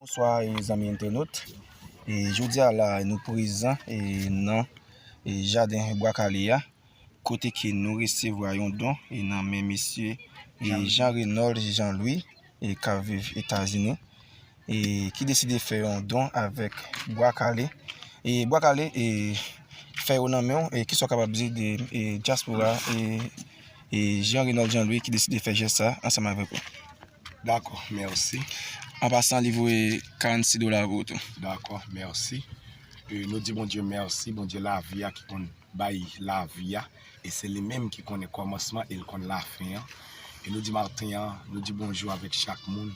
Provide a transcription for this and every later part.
Bonswa zanmi entenot e jodia la nou prezan e nan e jaden bwa kale a kote ke nou resevwa yon don e nan men mesye e jan renòl jan lwi e ka viv etazini e ki deside fè yon don avèk bwa kale e bwa kale e fè yo nan men ou e ki sou kapab di de e jaspora e e jan renòl jan lwi ki deside fè jè sa ansanm avèk ou Dakò, mèsi. An pasan li voye 46 dola pou ou tou. Dakò, mèsi. Nou di Bondye mèsi, Bondye lavi a ki konn bay lavi a. E se li menm ki konnen kòmansman e li konn lafen an. E nou di maten an, nou di bonjou avèk chak moun.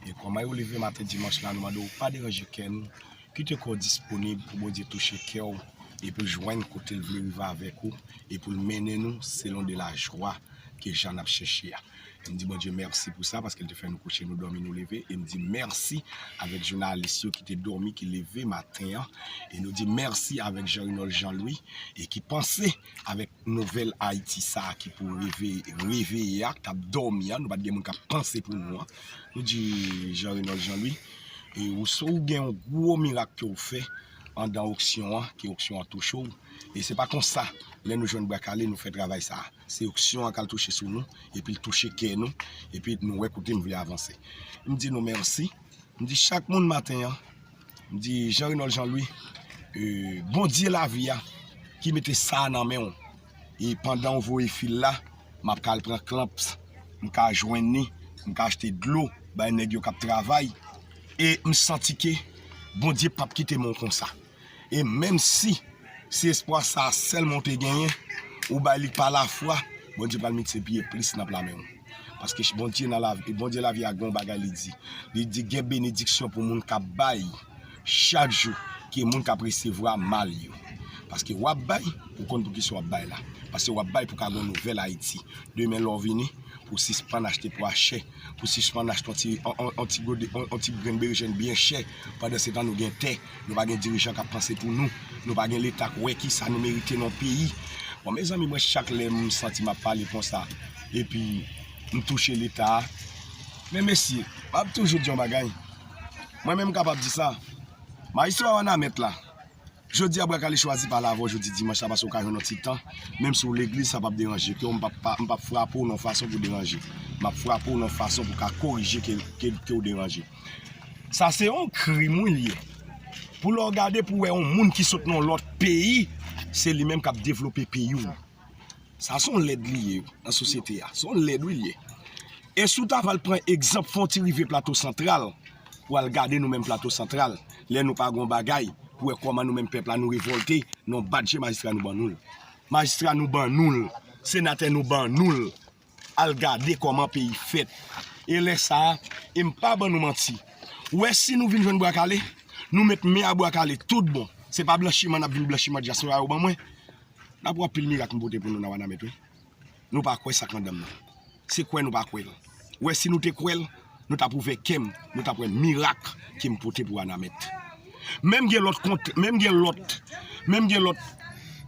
E kòman yo leve maten dimanch la, nou mande ou pa deranje kè nou. Kite kè w disponib pou Bondye touche kè w e pou l jwenn kote l vle rive avèk ou e pou l mennen nou selon de lajwa ke jan n ap chèche a. E m di Bondye mèsi pou sa paske l te fè nou kouche nou dòmi nou leve e m di mèsi avèk jounalis yo ki te dòmi ki leve maten an e nou di mèsi avèk Jean Renold Jean Louis e ki panse avèk nouvèl Ayiti sa a ki pou reveye reveye a k ap dòmi a nou pa t gen moun k ap panse pou nou an nou di Jean Renold Jean Louis e ou so ou gen yon gwo mirak ke w fè andan oksyon an ke oksyon an touche w e se pa konsa lè nou jwenn bwa kale nou fè travay sa a. Se onksyon an k al touche sou nou, epi l touche kè nou, epi nou wè kote nou vle avanse. M di nou mèsi, m di chak moun maten an, m di Jean Renold Jean Louis, Bondye lavi a ki mete sa a nan men w, e pandan ou voye fil la, m ap ka al pran klamps, m ka jwenn ni, m ka achte dlo bay nèg yo k ap travay, e m santi ke Bondye p ap kite men w konsa. E menm si se espwa sa a sèlman ou te genyen, ou bay li pa lafwa, Bondye pral miltipliye plis nan pla men ou. Paske Bondye nan la, Bondye lavi a gen yon bagay li di. Li di gen benediksyon pou moun k ap bay chak jou ke moun k ap resevwa mal yo. Paske w ap bay, ou konn pou kisa w ap bay la. Paske w ap bay pou ka gen yon nouvèl Ayiti. Demen lè w vini, pou w sispann achte pwa chè. Pou sispann achte yon ti yon ti gode yon ti grenn berejèn byen chè pandan se tan nou gen tè nou pa gen dirijan kap panse pou nou nou pa gen leta k wè kisa nou merite nan peyi bon mezanmi mwen chak lèm santi map pale konsa epi m touche leta men mesye map toujou di yon bagay mwen menm m kapab di sa maestro a wanament la. Jodi a bwa kale chwazi pale avèw jodi dimanch la paske ou ka jwenn yon ti tan menm si ou legliz sa pap deranje kew m pap frapew nan yon fason pou deranje map frapew nan yon fason pou ka korije kew deranje sa se yon krim wi li ye pou lè w gade pou wè yon moun ki sot nan yon lòt peyi se li menm kap devlope peyi w. Sa son lèd li ye nan sosyete a. Son lèd wi li ye. E si w ta pral pran egzanp, fon w ti rive Plato Santral pou al gade nou menm Plato Santral, lè nou pa gen yon bagay, pou wè kòman nou menm pèp la nou revòlte nan yon bat je majistra nou ban nou l. Majistra nou ban nou l, senatè nou ban nou l. al gade kòman peyi fèt e lè sa a e m pa ban nou manti wè si nou vin jwenn bwa kale nou met men a bwa kale tout bon se pa blanchiman n ap vin blanchiman dyaswora yo ban mwen n ap wè anpil mirak m pote pou nou nan wanament wi nou pa kwè sa k nan dan m nan se kwè nou pa kwè l wè si nou te kwè l nou t ap ouvè kè m nou t ap wè mirak ke m pote pou wanament menm gen lòt kont menm gen lòt menm gen lòt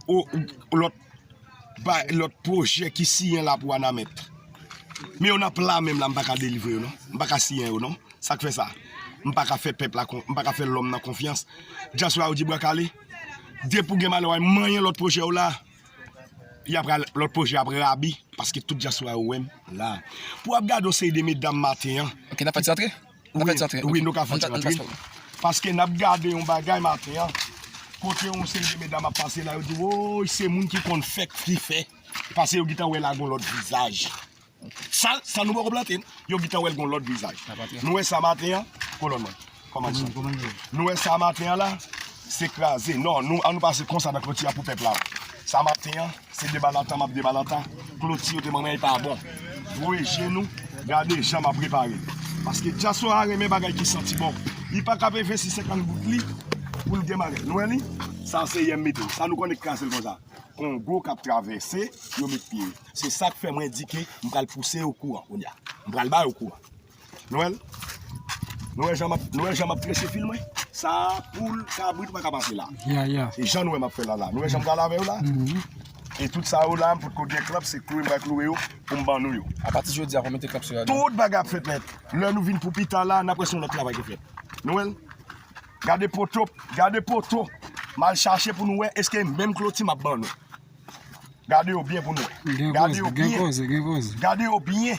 o lòt. bay lòt pwojè ki siyen la pou Wanament. Men yo nan pla menm la m pa ka delivre yo non. M pa ka siyen yo non. Sa k fè sa? M pa ka fè pèp la, m pa ka fè lòm nan konfyans. Dyaswa yo di bwa kale. Depi ou gen malè wè manyen lòt pwojè w la, y ap pral, lòt pwojè ap rabi paske tout dyaswa yo wè m la. Pou w ap gade yon seri de medam maten an. Ok, n ap fè ti antre. Wi, wi nou ka fè ti rant wi. Paske n ap gade yon bagay maten an, kote yon seri de medam ap pase la, yo di woy se moun ki konn fèk fi fè, pase yo gintan wè la gon lòt vizaj. Sa, sa nou poko plante, yo gintan wè l gon lòt vizaj. Nou wè sa maten an, kolòn mwen, kòmandan, nou wè sa maten an la, se kraze non nou an nou pase konsa nan kloti a pou pèp la sa maten an se deba nan tan map deba nan tan kloti yo te ban mwen e pa bon voye je nou gade jan map repare paske dyaspo a renmen bagay ki santi bon li pa ka veve si se kan gout li poul gen bagay nou wè li sa se yèm mete sa nou konn e kraze l konsa kongo kap travèse yo met pye se sak fè mwen di ke m pral pouse yo kouran kounye a m pral ba yo kouran. Nou wèl? Nou wè jan map, nou wè jan map trese fil mwen? Sa a poul, kabrit ou pa ka pase la. Ya, ya. E jan nou wè map fè la la. Nou wè jan m pral avè yo la? E tout sa yo la, m potko gen klanp, se kloure m pral kloure yo pou m ban nou yo. A pati jodi a, fò m mete klanp sou yo. Tout bagay ap fèt nèt. Lè nou vin pou pita la, n ap wè si yon lòt travay te fèt. Nou wèl? Gade poto, gade poto m al chache pou nou wè eske e menm kloti map ban nou. Gade yo byen pou nou wè. Gen koze, gen koze, gen koze. Gade yo byen.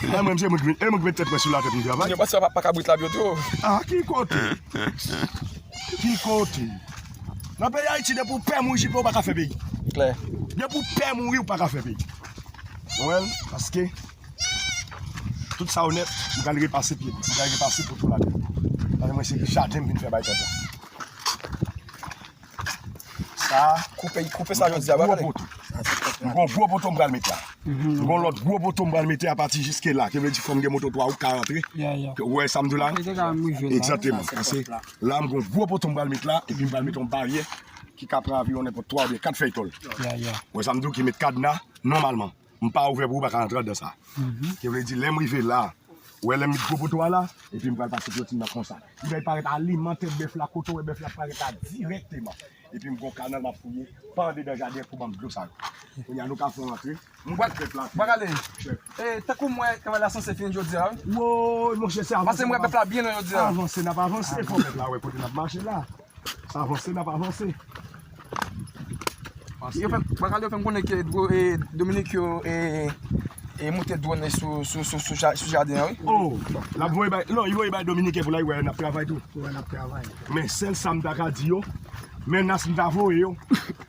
Mwen menm se mwen ki met tèt mwen sou la tèt mwen travay. Yo pase pa kabrit la byo tou. Ah ki kote? Ki kote? Nan peyi Ayiti depi ou pè mouri jipe ou pa ka fè peyi. Klè. Depi ou pè mouri ou pa ka fè peyi. Konprann? Paske tout sa ou nèt mwen pral repase pye m. Mwen pral repase pote m atè. Paske mwen se jaden m vin fè bay pèp la. Sa a, koupe, koupe sa yo di a, wè gade. M gon gwo poto m pral met la. M gon lòt gwo poto m pral mete apati jiske la. Ki vle di fòm gen moto 3 wout ka rantre. Ou wè sa m di w la? Egzakteman. Pase, la m gon gwo poto m pral met la, epi m pral mete yon baryè ki ka pran anviwon nenpòt 3 oubyen 4 fèy tòl. Ou wè sa m di w? Ki met kadna nòmalman. M pa ouvè pou ou pa ka antre andan sa. Ki vle di lè m rive la, ou wè lè m met gwo poto a la, epi m pral pase kloti m nan konsa. Li bay parèt a liman tèt bèf la, kote ou wè bèf la ap parèt la dirèkteman. Epi m gon kanal m ap fouye pa andedan jaden an pou ban m dlo sa yo. Kounye a nou ka fè yon antre. M bwat krèt la. Bwak ale! Chèf. E, tankou m wè travay la sanse fini jodi a wi. Woy monchè se avanse n ap avanse. Pase m wè bèf la byen lwen jodi a. Avanse n ap avanse fò bèf la wè kote n ap mache la. Sa vanse nap avanse. Bakal yo fèm konnen ke Dominik yo e moute drone sou jaden an wi. Oh! Lap voye bay, non, li voye bay Dominiken pou la wè nap travay tou. Wè nap travay. Men sèl sam ta ka di yo, menas m ta voye yo,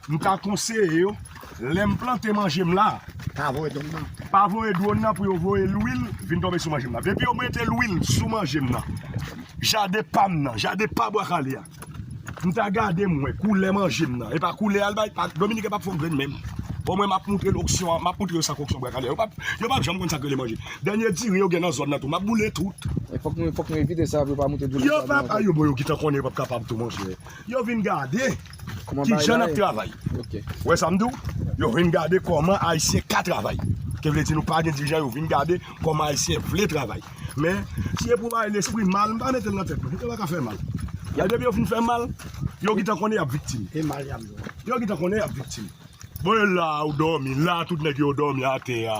m ta konseye yo. Lèm plante manjem la. Pa voye dwon nan. Pa voye dwon nan pou yo voye lwil vin tonbe sou manjem nan. Depi yo mete lwil sou manjem nan. Jaden pam nan. Jaden pa bwa kale a. M ta gade m wè koulè manjem nan. E pa koulè al bay. Dominik e pap fon grenn menm. Bon mwen map moutre loksyon an. Map moutre yo sa koksyon bwa kale a. Yo pap janm konn sa krele manje. Dènye diri yo gen nan zòn nan tou. Map boule tout. Fok nou evite sa pou yo pa moutre diri sa nan zòn nan. Yo pap. Ayo bon yo gitan konnen yo pap kapab tou monchè. Yo vin gade. Ki jan nap travay. Ou wè sam diw? Yo vin gade kòman ayisyen ka travay. Ke vle di nou pa gen dirijan yo vin gade kòman ayisyen vle travay. Men, si e pou bay lespri mal, m pa metel nan tèt mwen. Yo paka fè mal. Men depi yo fin fè mal, yo gintan konnen yap viktim. E mal yap jwenn. Yo gintan konnen yap viktim. Bon e la ou dòmi, la tout nèg yo dòmi atè a.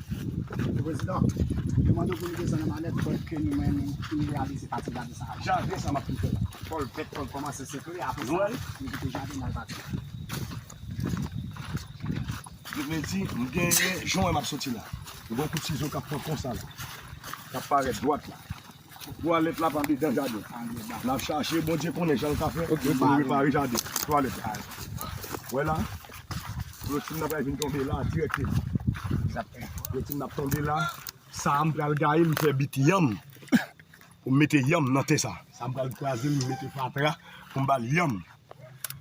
Mr. President, yo mande w pou nou desann an manèt pwèv ke nou menm nou reyalize pati jaden sa a. Jaden sa m ap kite la. Pòl fèt, Pòl kòmanse sekle, apre sa, nou kite jaden n al bati. Sa vle di, m gen, jan w wè m ap soti la, m gen yon kout sizo k ap fè konsa la, k ap parèt dwat la. Twalèt la pa dedan jaden. Nap chache Bondye konnen jan l ka fè pou nou repare jaden twalèt la. Wè la, kloti m nan pral vin tonbe la dirèkteman. Kloti m nan ap tonbe la. Sa a m pral gaye l m fè bit yanm pou m mete yanm nan tè sa a. Sa a m pral kraze l m mete fatra pou m ba l yanm.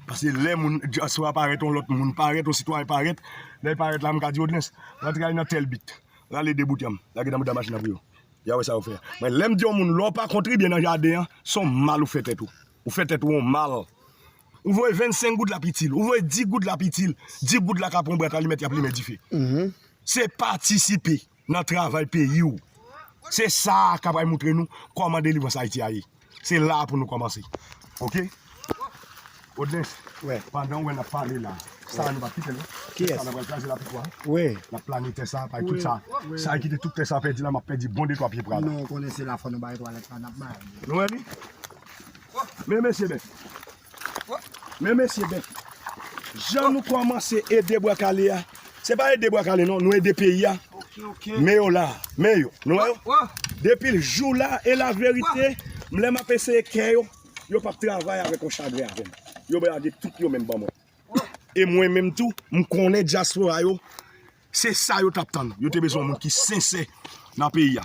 Pase lè moun dyaspora parèt yon lòt moun parèt, yon sitwayen parèt. Lè l parèt la m ka di odrens, rantre al nan tèl bit, rale de bout yanm, lage nan mouda machin nan pou yo. Ya wè sa yo fè. Mwen lèm di yon moun lè w pa kontribye nan jaden an, se yon mal ou fè tèt ou. Ou fè tèt ou yon mal. Ou voye 25 goud lap itil. Ou voye 10 goud lap itil. 10 goud la ka pran yon bwat alimèt yap limen dife. Se patisipe nan travay peyi ou. Se sa a ka pral moutre nou kòman delivrans Ayiti a ye. Se la pou nou kòmanse. Ok. Odens, pandan ou wè nap pale la, sa a nou pap kite l non. Tè sa a nou pral kraze l a pi fò. Nap plane tè sa a, pay tout sa a. Sa ki te tout tè sa a pèdi la, map pèdi bon detwa pye pral. Nou konnen se la fò nou bay twalèt la nap bay. Nou wè li? Men mesye men. Men mesye ben Jan nou kòmanse ede bwa kale a Se pa ede bwa kale non nou ede peyi a Men yo la Men yo nou wè yo Depil jou la e la verite M lè map eseye kè yo Yo pap travay avèk yon chagren avèm Yo brage tout yo menm ban mwen E mwen menm tou m konnen dyaspora yo Se sa yo tap tann Yo te bezwen yon moun ki sensè Nan peyi a.